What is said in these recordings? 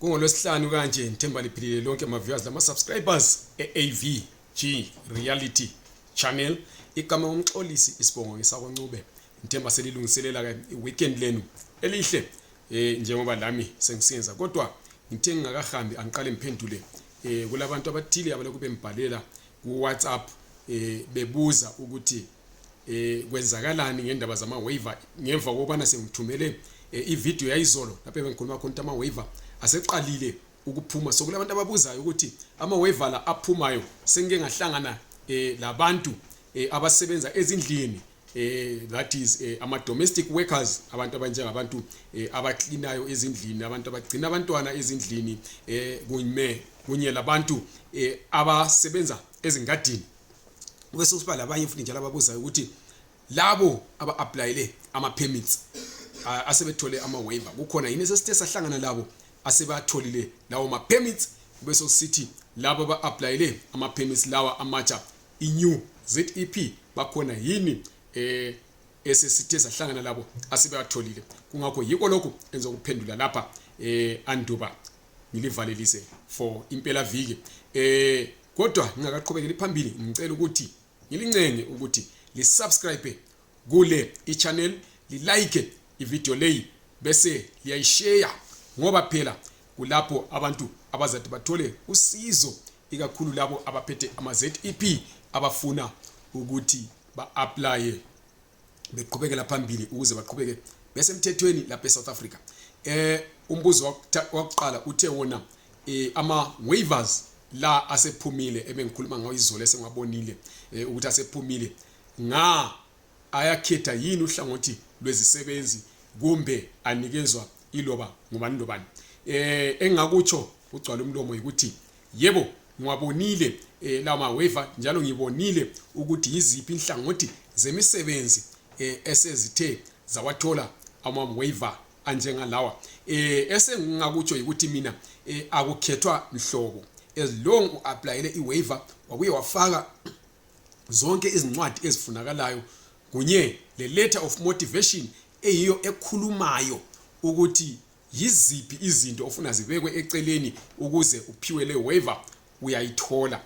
kungolwesihlanu kanje ngithemba liphilile lonke ama-viewers lama-subscribers e-avg reality channel igama ngomxolisi isibongo ngesakoncube ngithemba selilungiselela-ke i-weekend lenu elihle um njengoba lami sengisiyenza kodwa ngithe ngingakahambi angiqale ngiphendule um kulabantu abathile abalokhu bembhalela ku-whatsapp um bebuza ukuthi eh kwenzakalani ngendaba zama waiver ngemva kokubana sengithumele eh, ivideo yayizolo lapho bengikhuluma khona ukuthi ama waiver aseqalile ukuphuma so kulabantu ababuzayo ukuthi ama waiver la aphumayo sengike ngahlangana eh labantu eh, abasebenza ezindlini eh that is eh, ama domestic workers abantu abanjengabantu eh, abaklinayo ezindlini abantu abagcina abantwana ezindlini eh kunye kunye labantu eh, abasebenza ezingadini kube sokusiba labanye futhi njalo ababuzayo ukuthi labo aba-aplayele ama-permits asebethole ama-waiver kukhona yini esesithe sahlangana labo asebatholile lawo ma-permits kube sokusithi labo aba-aplayele ama-permits lawa amatsha i-new zep bakhona yini eh esesithe sahlangana labo asebewatholile kungakho yiko lokhu enza ukuphendula lapha eh anduba ngilivalelise for impela viki eh kodwa ngingakaqhubekeli phambili ngicela ukuthi ngilincenge ukuthi lisubscribe kule ichannel lilike ivideo leyi bese liyayishare ngoba phela kulapho abantu abazathi bathole usizo ikakhulu labo abaphethe ama-zep abafuna ukuthi ba-aplaye beqhubekela phambili ukuze baqhubeke besemthethweni lapha eSouth Africa eh umbuzo wakuqala uthe wona eh, ama waivers la asephumile ebengikhuluma ngawo izolo esengwabonile eh, ukuthi asephumile nga ayakhetha yini uhlangothi lwezisebenzi kumbe anikezwa iloba ngubani lobani eh engakutsho ugcwala umlomo ukuthi yebo ngiwabonile eh, lawo maweva njalo ngibonile ukuthi yiziphi inhlangothi zemisebenzi eh, esezithe zawathola amaweva anjengalawa eh, esengingakutsho yikuthi mina eh, akukhethwa mhlobo as long uapplyele iwaiver wabuye wafaka zonke izincwadi ezifunakalayo kunye le letter of motivation eyiyo ekhulumayo ukuthi yiziphi izinto ofuna zibekwe eceleni ukuze uphiwe le waiver uyayithola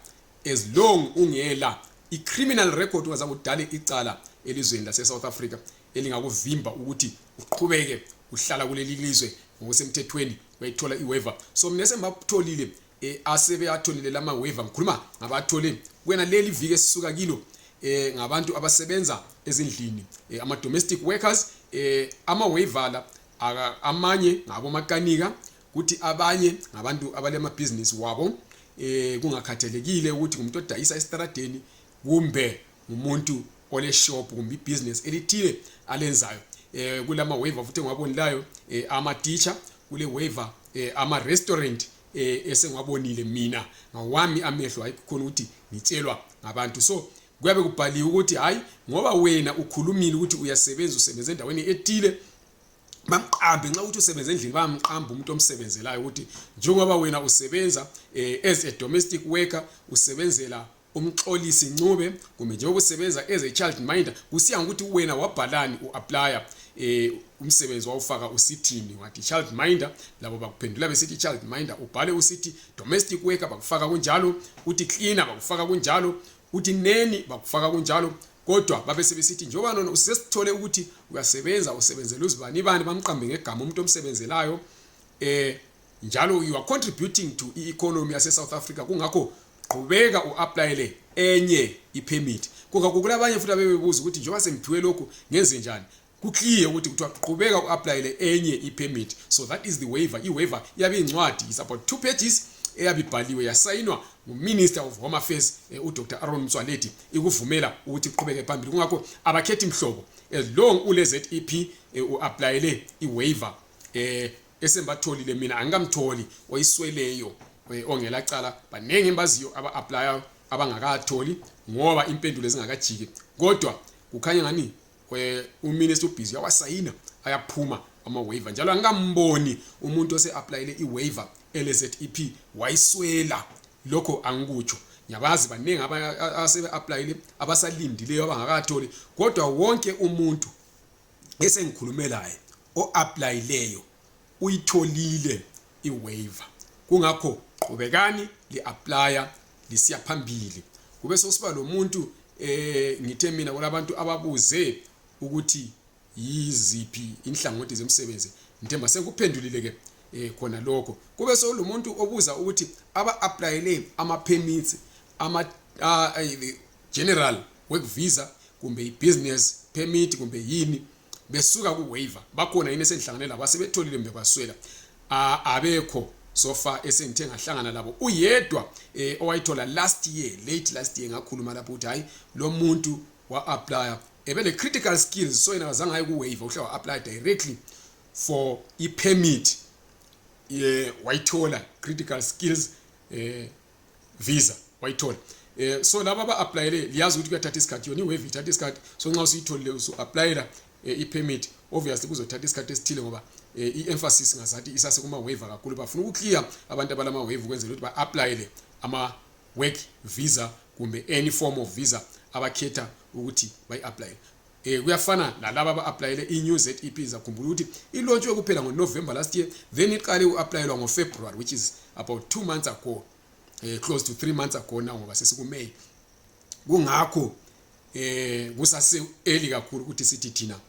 as long ungela i-criminal record ungaza kudale icala elizweni lase-south africa elingakuvimba ukuthi uqhubeke uhlala kuleli lizwe ngokusemthethweni uyayithola i-waiver so mina sengibakutholile um eh, asebeyatholile la ma-waiver ngikhuluma ngabathole kwena leli viki esisuka kilo eh ngabantu abasebenza ezindlini eh, ama domestic workers eh ama waiver la amanye ngabomakanika kuthi abanye ngabantu abalemabhizinisi wabo um kungakhathalekile ukuthi ngumuntu odayisa esitaradeni kumbe ngumuntu oleshop kumbe ibhizinisi elithile alenzayo um kulama waiver futhi engiwabonilayo um eh, amateacher kule waiver um ama-restaurant um esengiwabonile mina ngawami amehlo hayi kukhona ukuthi ngitshelwa ngabantu so kuyabe kubhaliwe ukuthi hayi ngoba wena ukhulumile ukuthi uyasebenza usebenza endaweni ethile bamqambe nxa ukuthi usebenza endlini bayamqamba umuntu omsebenzelayo ukuthi njengoba wena usebenza eh, as a domestic worker usebenzela umxolisi ncube kumbe njengoba usebenza as a child minder kusiya ngokuthi wena wabhalani u-aplya eh umsebenzi wawufaka usithini wathi child minder labo bakuphendula besithi child minder ubhale usithi domestic worker bakufaka kunjalo uthi cleaner bakufaka kunjalo uthi neni bakufaka kunjalo kodwa babe sebesithi njengoba nona usesithole ukuthi uyasebenza usebenzela uzibani bani bamqambe ngegama umuntu omsebenzelayo eh njalo you are contributing to i-economy yase-south africa kungakho qhubeka u-aplayele enye i-permit kungakho kulabanye futhi abebebuza ukuthi njengoba sengiphiwe lokhu ngenze njani kuclear ukuthi kuthiwa qhubeka uapplyele enye ipermit so that is the waiver iwaiver iyabe incwadi is about two pages eyabe ibhaliwe yasayinwa nguminister of home affairs eh, udr aron mtswaledi ikuvumela ukuthi kuqhubeke phambili kungakho abakhethi mhlobo as long ulezep eh, uapplyele iwaiver eh esembatholile mina angikamtholi oyisweleyo eh, ongela cala baningi embaziyo aba applyayo abangakatholi ngoba impendulo ezingakajiki kodwa kukhanya ngani we uminister ubhizi uyawasayina ayaphuma ama-waiver njalo angikamboni umuntu ose-aplayele i-waiver lzep wayiswela lokho angikutsho ngiyabazi baningi asebe-aplayile abasalindileyo abangakatholi kodwa wonke umuntu esengikhulume laye o-aplayileyo uyitholile iwaiver kungakho qhubekani li-aplya lisiya phambili kube sokusiba lomuntu eh ngithe mina kulabantu ababuze ukuthi yiziphi inhlangothi zemsebenzi ngithemba sekuphendulile ke eh khona lokho kube sekulomuntu obuza ukuthi aba applyele ama permits ama uh, general work visa kumbe i business permit kumbe yini besuka ku waiver bakhona yini esengihlangane labo asebetholile mbe kwaswela abekho sofa esengithe ngahlangana labo uyedwa eh, owayithola last year late last year ngakhuluma lapho ukuthi hayi lo muntu wa-aplya ebele critical skills so yena kazange aye ku-waiver uhle wa-aplya directly for i-permit ye wayithola critical skills eh visa wayithola eh so laba aba applyele liyazi ukuthi kuyathatha isikhathi yona iwave ithatha isikhathi so nxa usuyitholile usu applyela eh, i permit obviously kuzothatha isikhathi esithile ngoba eh, i emphasis ngazathi isase kuma wave kakhulu bafuna ukuclear abantu abalama wave ukwenzela ukuthi ba applyele ama work visa kumbe any form of visa abakhetha ukuthi bayi apply Eh kuyafana nalabo aba applyele i new ZEP zakhumbula ukuthi i launch yokuphela ngo November last year then iqale u applyelwa ngo February which is about 2 months ago eh close to 3 months ago now ngoba sesiku May kungakho eh kusase early kakhulu ukuthi sithi thina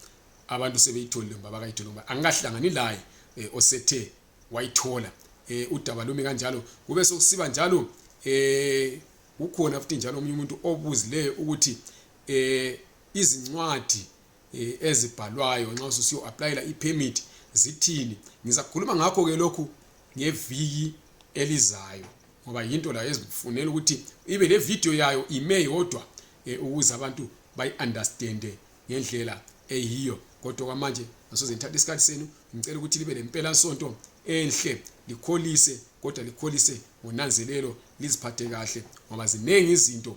abantu sebeyitholile ngoba bakayithola ngoba angahlangani laye eh, osethe wayithola eh udaba lumi kanjalo kube sokusiba njalo eh ukhona futhi njalo omunye umuntu obuzileyo ukuthi eh izincwadi eh, ezibhalwayo nxa ususiyo applyela ipermit zithini ngizakhuluma ngakho ke lokhu ngeviki elizayo ngoba yinto layo ezifunela ukuthi ibe le video yayo ime yodwa eh, ukuze abantu bayi understand ngendlela eyiyo kodwa kwamanje ngasoze ngithatha isikhathi senu ngicela ukuthi libe lempela sonto enhle likholise kodwa likholise ngonanzelelo liziphathe kahle ngoba ziningi izinto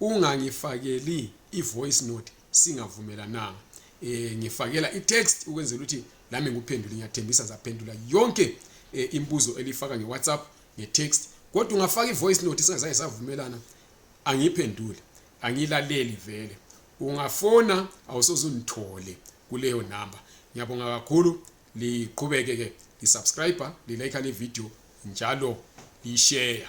ungangifakeli i-voice note singavumelananga eh ngifakela i-text ukwenzela ukuthi lami ngikuphendule ngiyathembisa zaphendula yonke eh, imbuzo elifaka nge-whatsapp nge-text kodwa ungafaka i-voice note singazange savumelana angiyiphendule angilaleli vele ungafona awusoze ungithole kuleyo namba ngiyabonga kakhulu liqhubeke ke lisubscribe lilike le video njalo lishare